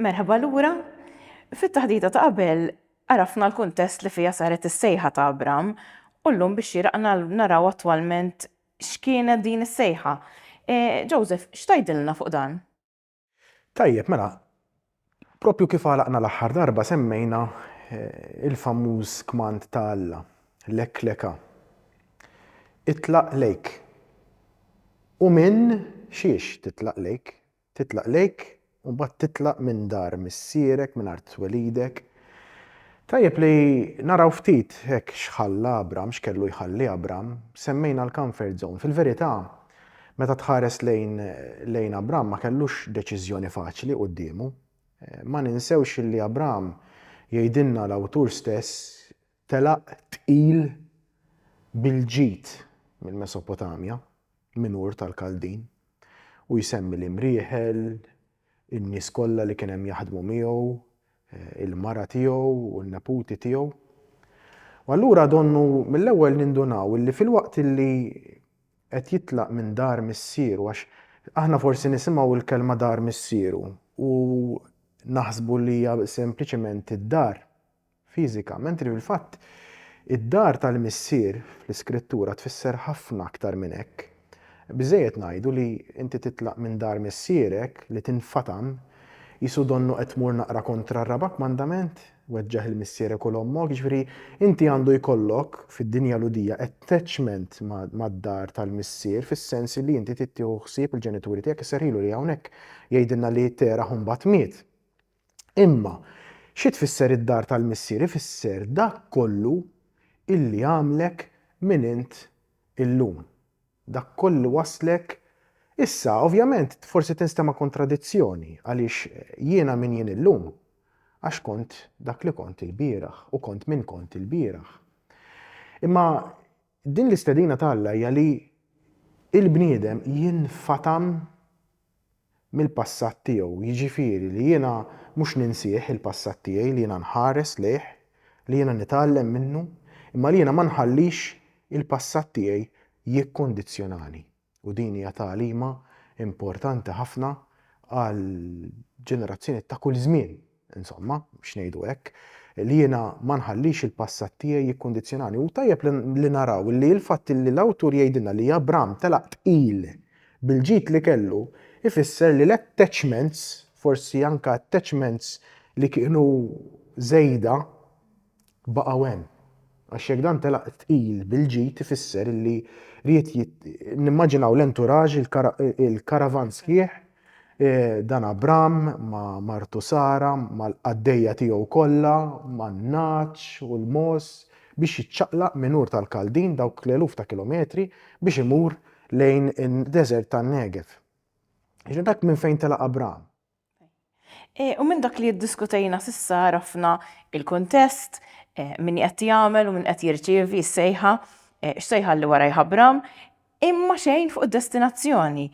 Merħba lura. Fit-taħdita ta' qabel għarafna l-kuntest li fiha saret is-sejħa ta' Abram u llum bix-xieraq naraw attwalment x'kienet din is-sejħa. Joseph, x'tgħidilna fuq dan? Tajjeb, mela, proprju kif għalaqna l-aħħar darba semmejna l-famuż kmand ta' Alla, Lek leqa, itlaq lejk. U minn xiex titlaq lejk? Titlaq lejk u mbagħad titlaq minn dar missierek, minn art twelidek. Tajjeb li naraw ftit hekk x'ħalla Abram, x'kellu jħalli Abram. Semmejna l-comfort zone. Fil-verità, meta tħares lejn lejn Abram ma kellux deċiżjoni faċli quddiemu. Ma ninsewx li Abram, jgħidilna l-awtur stess, Telaq tqil bil-ġid mill-Mesopotamja, minn Ur tal-Kaldin, u jsemmi l-imrieħel, in-nies kollha li kien hemm jaħdmu miegħu, il-mara tiegħu u n-neputi tiegħu. U allura donnu mill-ewwel nindunaw illi filwaqt illi qed jitlaq minn dar missieru għax aħna forsi nisimgħu l-kelma dar missieru u naħsbu li hija sempliċement id-dar fiżika, mentri fil-fatt id-dar tal-Missier fl-Iskrittura tfisser ħafna aktar minn hekk. Biżżejjed ngħidu li inti titlaq minn dar missierek, li tinfatam, qisu donnu qed tmur naqra kontra r-raba' kmandament, weġġaħ 'il missierek u 'l ommok, jiġifieri inti għandu jkollok, fid-dinja Lhudija, attachment mad-dar tal-Missier fis-sens li inti trid tieħu ħsieb il-ġenituri tiegħek, isserħilu li hawnhekk jgħidilna li Terah imbagħad miet. Imma, xi tfisser id-dar tal-Missier? Ifisser dak kollu illi għamlek min int illum. Dak kollu wasslek Issa, ovvjament, forsi tinstema' kontradizzjoni, għaliex jiena min jien illum? Għax kont dak li kont ilbieraħ u kont min kont ilbieraħ. Imma Din l-istedina ta' Alla hija li l-bniedem jinfatam mill-passat tiegħu, jiġifieri li jiena mhux ninsih il-passat tiegħi, li jiena nħares lejh, li jiena nitgħallem minnu, imma li jiena ma nħallix il-passat tiegħi jikkundizzjonani. U din hija tagħlima importanti ħafna għal ġenerazzjonijiet ta' kull żmien, insomma, biex ngħidu hekk, li jiena ma nħallix il-passat tiegħi jikkundizzjonani. U tajjeb li, li naraw li l-fatt li l-awtur jgħidilna li Abram telaq tqil bil-ġid li kellu jfisser li l-attachments, forsi anke attachments li kienu żejda, baqgħu hemm. Għax jekk dan telaq tqil bil-ġid ifisser li ried nimmaġinaw l-entourage il-karavan sħiħ dan Abram ma' martu Sara mal-qaddejja tiegħu kollha man-nagħaġ u l-mogħoż biex jiċċaqlaq minn Ur tal-Kaldin dawk l-eluf ta' kilometri biex imur lejn id-deżert tan-Negev. Dak minn fejn telaq Abram. Eh, u minn dak li jiddiskutejna sissa rafna il-kontest, eh, minn qed jagħmel u minn qed jirċievi s-sejħa, eh, x'sejħa li wara jħabbram, imma xejn fuq id-destinazzjoni.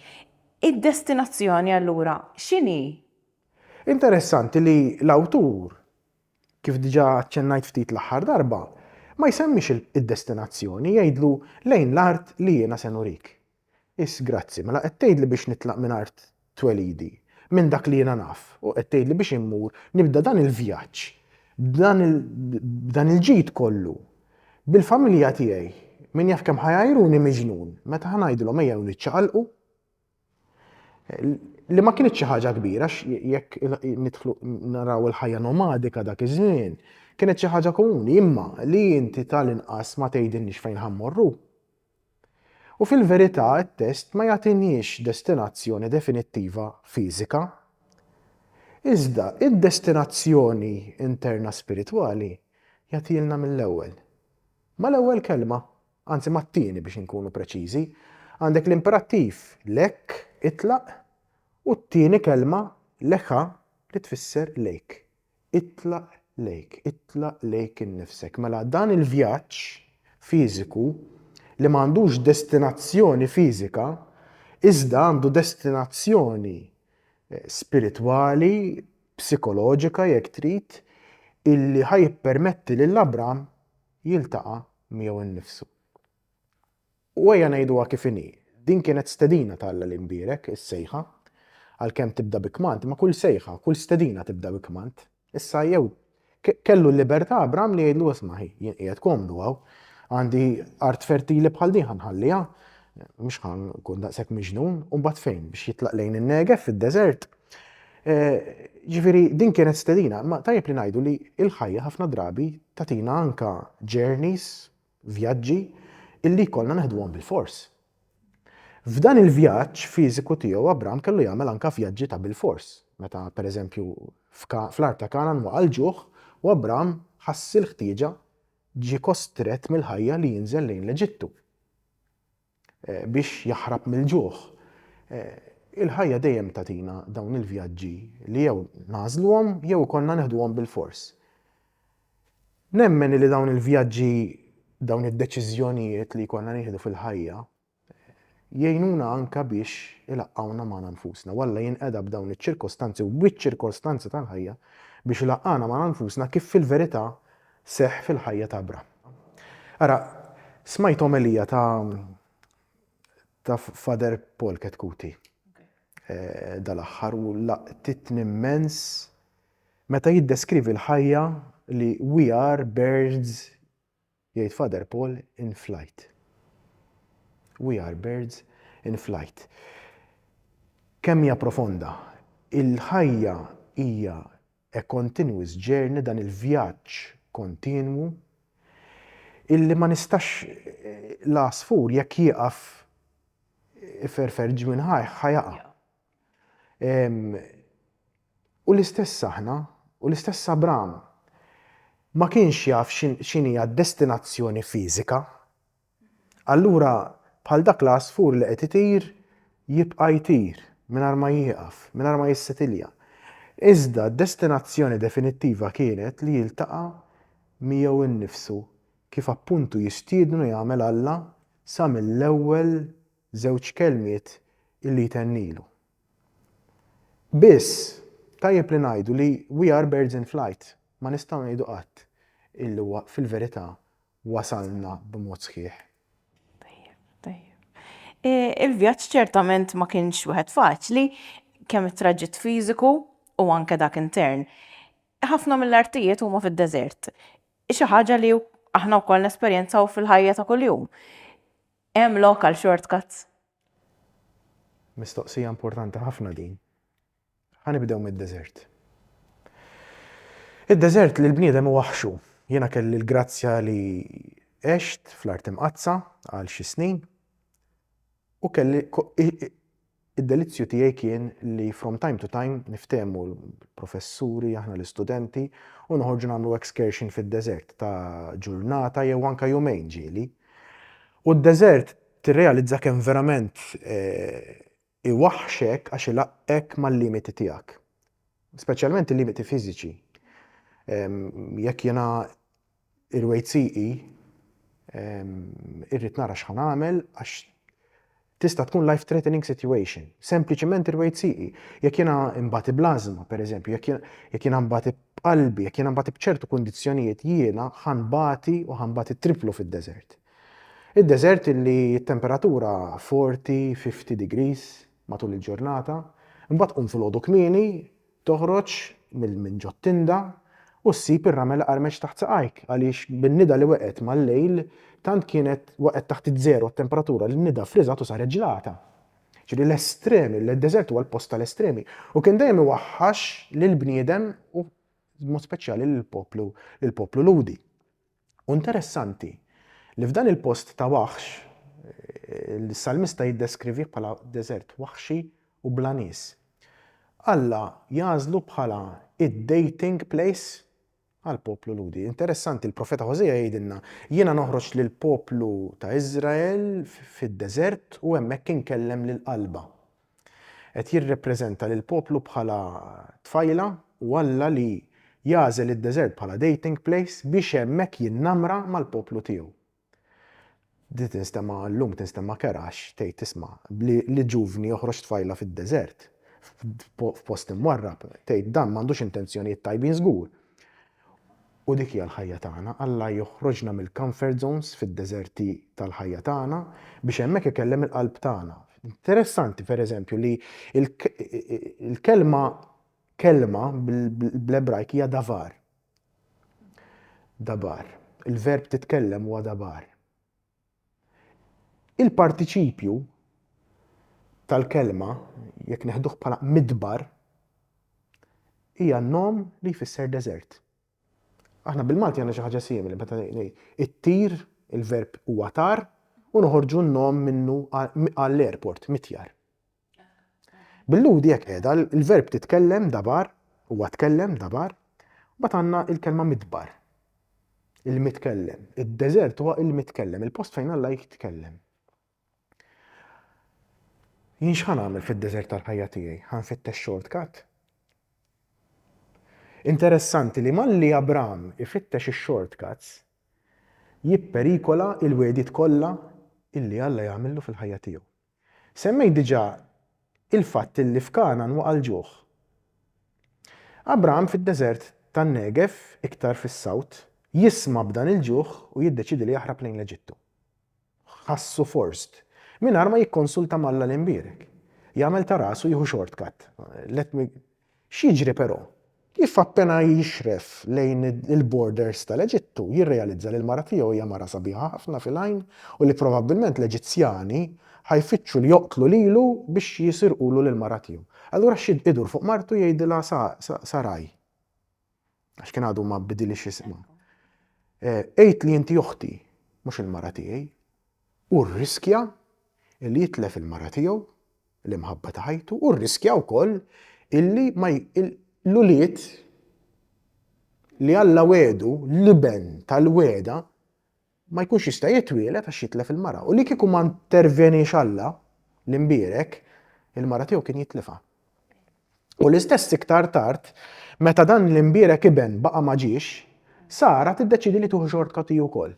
Id-destinazzjoni allura x'inhi? Interessanti li l-awtur, kif diġà aċċennajt ftit l-aħħar darba, ma jsemmix id-destinazzjoni, jgħidlu lejn l-art li jiena se nurik. Is, Grazzi. Mela qed tgħidli biex nitlaq minn art twelidi, minn dak li jiena naf, u qed tgħidli biex immur nibda dan il-vjaġġ b'dan il, b'dan il-ġid kollu, bil-familja tiegħi, min jaf kemm ħa jgħajruni miġnun meta ħa ngħidilhom ejjew niċċaqalqu? Li ma kinitx xi ħaġa kbira għax jekk nidħlu naraw il-ħajja nomadika dak iż-żmien, kienet xi ħaġa komuni, imma li inti tal-inqas ma tgħidilniex fejn ħa mmorru. U fil-verità t-test ma jagħtiniex destinazzjoni definittiva fiżika. Iżda id-destinazzjoni interna spiritwali jagħtilna mill-ewwel. Mal-ewwel kelma, anzi mat-tieni biex inkunu preċiżi, għandek l-imperattiv lek, itlaq, u t-tieni kelma, lecha, li tfisser lejk. Itlaq lejk, itlaq lejk innifsek. Mela dan il-vjaġġ fiżiku li ma għandux destinazzjoni fiżika iżda għandu destinazzjoni spiritwali, psikoloġika jekk trid, illi ħa jippermetti lil Abram jiltaqa' miegħu nnifsu. U ejja ngħiduha kif inhi, din kienet stedina ta' Alla l-Imbierek, is-sejħa. Għalkemm tibda bi kmand, ma' kull sejħa, kull stedina tibda bi kmand. Issa jew kellu l-libertà Abram li jgħidlu isma' hi, jien qiegħed komdu hawn, għandi art fertili bħal din ħa nħalliha, mhux ħa nkun daqshekk miġnun, u mbagħad fejn biex jitlaq lejn in-Negef fid-deżert. Eh, ġifieri din kienet stedina, ma tajjeb li ngħidu li l-ħajja ħafna drabi tatina anka journeys Vjaġġi illi jkollna neħduhom bilfors. F'dan il-vjaġġ fiżiku tiegħu Abram kellu jagħmel anke vjaġġi ta' bilfors, meta pereżempju fl-art ta' Kanan waqa' l-ġuħ u Abram ħass il-ħtieġa ġie kostrett mill-ħajja li jinżel lejn l-Eġittu. biex jaħrab mill-ġuħ. Il-ħajja dejjem tagħtina dawn il-vjaġġi li jew nagħżluhom jew ikollna neħduhom bilfors. Nemmen li dawn il-vjaġġi, dawn id-deċiżjonijiet li jkollna nieħdu fil-ħajja, jgħinuna anka biex ilaqqawna magħna nfusna. U Alla jinqeda b'dawn iċ-ċirkostanzi u biċ-ċirkostanzi tal-ħajja biex ilaqqana magħna nfusna kif fil-verità seħħ fil-ħajja ta' Abram. Ara, smajt omelija ta' ta' Father Paul Ketkuti eh, dal-aħħar u laqtitni immens meta jiddeskrivi l-ħajja li we are birds jgħid Father Paul in flight. We are birds in flight. Kemm hija profonda, il-ħajja hija A continuous journey dan il-vjaġġ kontinwu illi ma nistax l-għasfur jekk jieqaf iferfer ġmien ħajh ħa jaqa'. U l-istess aħna, u l-istess Abram ma kienx jaf x'inhi d-destinazzjoni fiżika Allura bħal dak l-għasfur li qed itir jibqa' jtir mingħajr ma jieqaf, mingħajr ma jissetilja. Iżda d-destinazzjoni definittiva kienet li jiltaqa' miegħu nnifsu kif appuntu jistiednu jagħmel Alla sa mill-ewwel żewġ kelmiet illi jtennilu. Biss, tajjeb li ngħidu li we are birds in flight, ma nistgħu ngħidu qatt illi huwa fil-verità wasalna b'mod sħiħ. Tajjeb, tajjeb. Il-vjaġġ ċertament ma kienx wieħed faċli, kemm it-traġitt fiżiku u anke dak intern. Ħafna mill-artijiet huma fid-deżert. Xi ħaġa li aħna wkoll nesperjenzaw fil-ħajja ta' kuljum. Hemm lok għal shortcuts? Mistoqsija importanti ħafna din. Ħa nibdew mid-deżert. Id-deżert li l-bniedem iwaħħxu. Jiena kelli l-grazzja li għext fl-Art Imqaddsa għal xi snin u kelli id-delizzju tiegħi kien li from time to time niftehmu l-professuri, aħna l-istudenti u noħorġu nagħmlu excursion fid-deżert ta' ġurnata jew anke jumejn ġieli. U d-deżert tirrealizza kemm verament eh, Iwaħħxek għax ilaqqek mal-limiti tiegħek. Speċjalment il-limiti fiżiċi. Jekk jiena irwejt sieqi, irrid nara x'ħa nagħmel għax tista' tkun life threatening situation. Sempliċement irwejt sieqi. Jekk jiena imbati blażma, pereżempju, jekk jiena mbati b'qalbi, jekk jiena mbati b'ċertu kundizzjonijiet jiena ħanbati u ħanbati triplu fid-deżert. Id-deżert li t-temperatura forti 50 degrees matul il-ġurnata, imbagħad tqum filgħodu kmieni, toħroġ minn ġot-tinda u ssib ir-ramel iqarmeċ taħt saqajk għaliex bin-nida li waqgħet mal-lejl tant kienet waqgħet taħt iż-żero t-temperatura li n-nida friżat u saret ġlata. Ġifieri l-estremi, id-deżert huwa l-post tal-estremi u kien dejjem iwaħħax lill-bniedem u b'mod speċjali lill-poplu lill-poplu Lhudi. U interessanti li f'dan il-post ta' waħx, l-salmista jiddeskrivih bħala deżert waħxi u bla nies. Alla jagħżlu bħala id-dating place għall-poplu Lhudi. Interessanti, il-profeta Ħożeja jgħidilna, Jiena noħroġ lill-poplu ta' Iżrael fid-deżert u hemmhekk inkellem lill-qalba. Qed jirrepreżenta lill-poplu bħala tfajla u Alla li jagħżel id-deżert bħala dating place biex hemmhekk jinnamra mal-poplu tiegħu. Di tinstema' llum tinstema' kerha għax tgħid tisma' li ġuvni joħroġ tfajla fid-deżert, f'post imwarrab, tgħid dan m'għandux intenzjonijiet tajbin żgur. U dik hija l-ħajja tagħna. Alla joħroġna mill-comfort zones fid-deżerti tal-ħajja tagħna biex hemmhekk ikellem il-qalb tagħna. Interessanti, pereżempju, li l-kelma kelma bl-Ebrajk hija davar. Dabar. Il-verb titkellem huwa dabar. Il-partiċipju tal-kelma, jekk neħduh bħala midbar, hija nom li jfisser deżert. Aħna bil-Malti għandna xi ħaġa simili, meta it-tir, il-verb huwa tar, u noħorġu n-nom minnu għall-airport, mitjar. Bil-Lhudi hekk qiegħda, il-verb titkellem dabar, huwa tkellem dabar, mbagħad għandna il-kelma midbar. Il-mitkellem. Id-deżert huwa il-mitkellem, il-post fejn Alla jitkellem. Jien x'ħan għamil fid-deżert tal-ħajja tiegħi? Ħan fittex shortcut? Interessanti li malli Abram ifittex ix-shortcuts jipperikola il-wedit kollha illi Alla jagħmillu fil-ħajja tiegħu. Semmejt diġà il-fatt li f'Kangħan waqa' l-ġuħ. Abraham fid-deżert tan-Negev, iktar fis-South, jisma' b'dan il-ġuħ u jiddeċiedi li jaħrab lejn l-Eġittu. Ħassu forced, mingħajr ma jikkonsulta ma' Alla l-Imbierek. Jagħmel ta' rasu jieħu shortcut. Let me X'jiġri però? Kif appena jixref lejn il-borders tal-Eġittu, jirrealizza li l-mara tiegħu hija mara sabiħa ħafna fil-għajn u li probabbilment l-Eġizzjani ħa jfittxu li joqtlu lilu biex jisirqulu lill-mara tiegħu. Allura x'id idur fuq martu jgħidilha Sa, Sa, Sarai. Għax kien għadu ma bidilix isma. Għid li inti uħti, mhux il-mara tiegħi. U rriskja li jitlef il-mara tiegħu, l-imħabba ta' ħajtu, u rriskja wkoll illi ma l-ulied li Alla wedu l-iben tal-weda ma jkunx jista' jitwieled għax jitlef il-mara, u li kieku ma ntervjeniex Alla, l-Imbierek, il-mara tiegħu kien jitlifha. U l-istess iktar tard, meta dan l-Imbierek Iben baqa' ma ġiex, Sara tiddeċiedi li tieħu xortcut hi wkoll.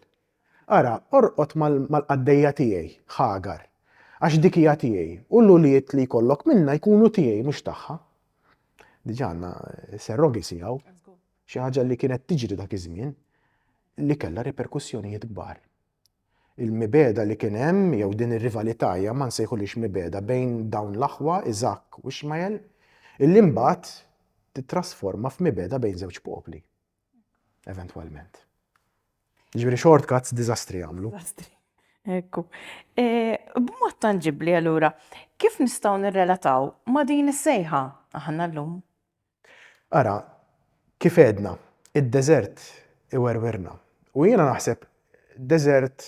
Ara, orqod mal-qaddejja tiegħi, Ħagar, għax dik hija tiegħi, u l-ulied li jkollok minnha jkunu tiegħi mhux tagħha. Diġà għandna surrogacy hawn. xi ħaġa li kienet tiġri dak iż-żmien, li kellha riperkussjonijiet kbar. Il-mibeda li kien hemm jew din ir-rivalità hija ma nsejħulix mibeda bejn dawn l-aħwa Iżakk u Ixmael, illi mbagħad tittrasforma f'mibeda bejn żewġ popli. Eventwalment. Ġifieri shortcuts diżastri jagħmlu. Ekku. E, b'mod tanġibbli allura, kif nistgħu nirrelataw ma' din is-sejħa aħna llum? Ara, kif għedna, id-deżert iwerwirna. U jiena naħseb deżert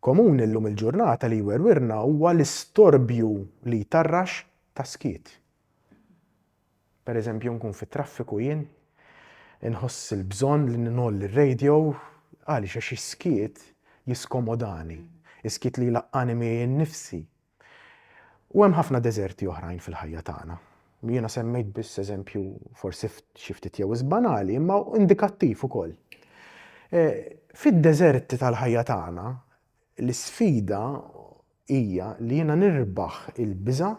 komuni llum il-ġurnata li jwerwirna huwa l-istorbju li jtarrax ta' skiet. Pereżempju nkun fit-traffiku jien, inħoss il-bżonn li ngħolli r-radio, għaliex għax is-skiet jiskomodani, is-skiet li jlaqqagħni miegħi nnifsi, U hemm ħafna deżerti oħrajn fil-ħajja tagħna. Jiena semmejt biss eżempju forsi xi ftit jew is banali, imma indikattiv ukoll. E, fid-deżerti tal-ħajja tagħna, l-isfida hija li jiena nirbaħ il-biża',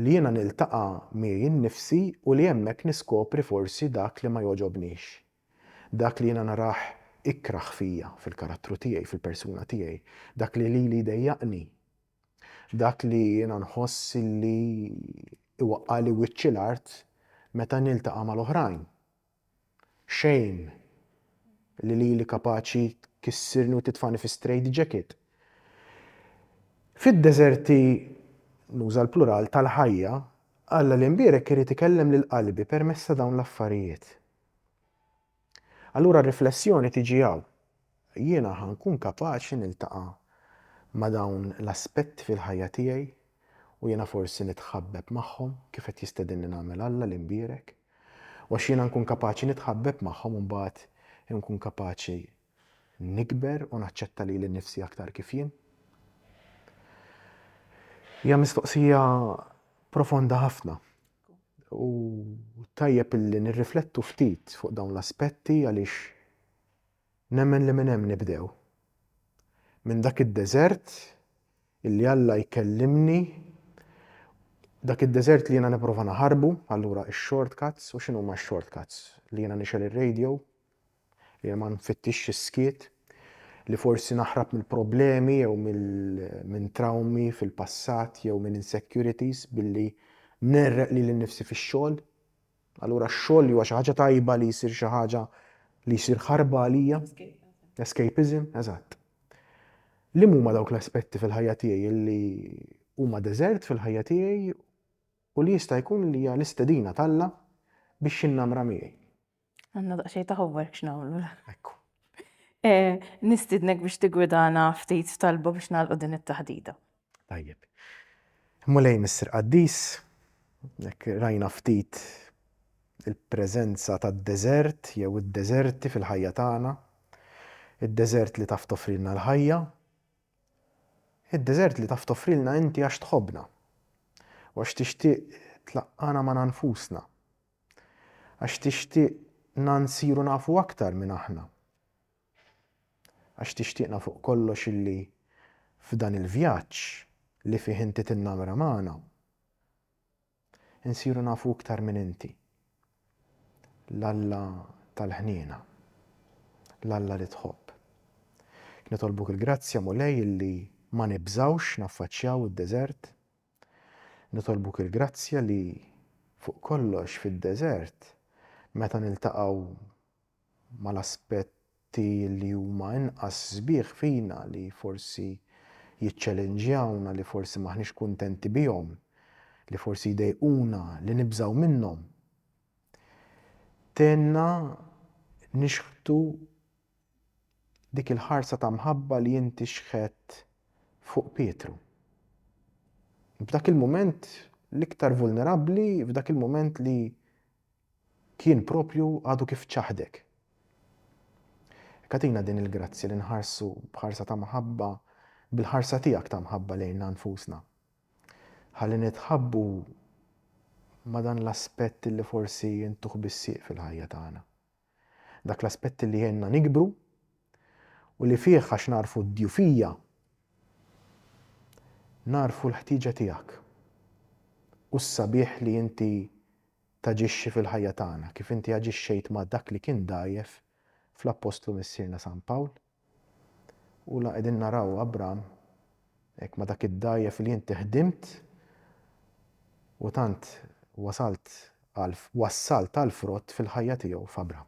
li jiena niltaqa' miegħi nnifsi u li hemmhekk niskopri forsi dak li ma jogħġobnix. Dak li jiena narah ikrah fija, fil-karattru tiegħi, fil-persuna tiegħi, dak li lili jdejjaqni, dak li jiena nħoss li jwaqqagħli wiċċi l-art meta niltaqa' mal-oħrajn. Xejn li lili kapaċi tkissirni u titfagħni fi straight jacket. Fid-deżerti, nuża l-plural, tal-ħajja, Alla li mbierek irid ikellem lil qalbi permezz ta' dawn l-affarijiet. Allura r-riflessjoni tiġi hawn. Jiena ħa nkun kapaċi niltaqa' ma' dawn l-aspetti fil-ħajja tiegħi u jiena forsi nitħabbeb magħhom kif qed jistedinni nagħmel Alla li nbierek? U għax jiena nkun kapaċi nitħabbeb magħhom imbagħad inkun kapaċi nikber u naċċetta lili nnifsi aktar kif jien? Hija mistoqsija profonda ħafna. U tajjeb illi nirriflettu ftit fuq dawn l-aspetti għaliex nemmen li minn hemm nibdew. Minn dak id-deżert illi Alla jkellimni, dak id-deżert li jiena nipprova naħarbu, allura x-shortcuts, u x'inhuma x-shortcuts? Li jiena nixgħel ir-radio, Jiena ma nfittixx is-skiet, li forsi naħrab mill-problemi jew minn trawmi fil-passat jew minn insecurities billi ngħerreq lili nnifsi fix-xogħol. Allura x-xogħol li huwa xi ħaġa tajba li jsir xi ħaġa li jsir ħarba għalija. Escapism, eżatt. Liem huma dawk l-aspetti fil-ħajja tiegħi li huma deżert fil-ħajja tiegħi u li jista' jkun li hija l-istedina t'Alla biex jinnamra miegħi? Għanna daqxej ta' homework x'nagħmlu. Ekku. Eh, nistidnek biex tigwidana ftit talba biex nagħlqu din it-taħdita. Tajjeb. Mulej Missir Qaddis, jekk rajna ftit il-preżenza tad-deżert jew id-deżerti fil-ħajja tagħna, id-deżert li taf toffrilna l-ħajja, id-deżert li taf toffrilna inti għax tħobbna u għax tixtieq tlaqqana ma' nfusna Għax tixtieqna nsiru nafu aktar min aħna. Għax tixtieqna fuq kollox illi f'dan il-vjaġġ li fih inti tinnamra magħna, insiru nafu iktar min inti, l-Alla tal-ħniena, l-Alla li tħobb. Nitolbuk il-grazzja, Mulej, illi ma nibżgħux naffaċċjaw id-deżert. Nitolbuk il-grazzja li, fuq kollox fid-deżert, meta niltaqgħu mal-aspetti li huma inqas sbieħ fina, li forsi jiċċelenġjawna, li forsi m'aħniex kuntenti bihom, li forsi jdejquna, li nibżgħu minnhom, tgħinna nixħtu dik il-ħarsa ta' mħabba li inti xħedt fuq Pietru. F'dak il-mument l-iktar vulnerabbli, f'dak il-mument li kien propju għadu kif ċaħdek. Katina din il-grazzja li nħarsu b'ħarsa ta' mħabba bil-ħarsa tiegħek ta' mħabba lejna nfusna. Ħalli nitħabbu ma' dan l-aspett li forsi intuh bis-sieq fil-ħajja tagħna. Dak l-aspett li jgħinna nikbru u li fih għax nagħrfu d-djufija nagħrfu l-ħtieġa tiegħek u s-sabiħ li inti taġixxi fil-ħajja tagħna kif inti aġixxejt ma' dak li kien dgħajjef fl-Appostlu Missierna San Pawl. U la qegħdin naraw Abram hekk ma dak id-dgħajjef li inti ħdimt u tant wasalt għal wassalt għal frott fil-ħajja tiegħu f'Abram.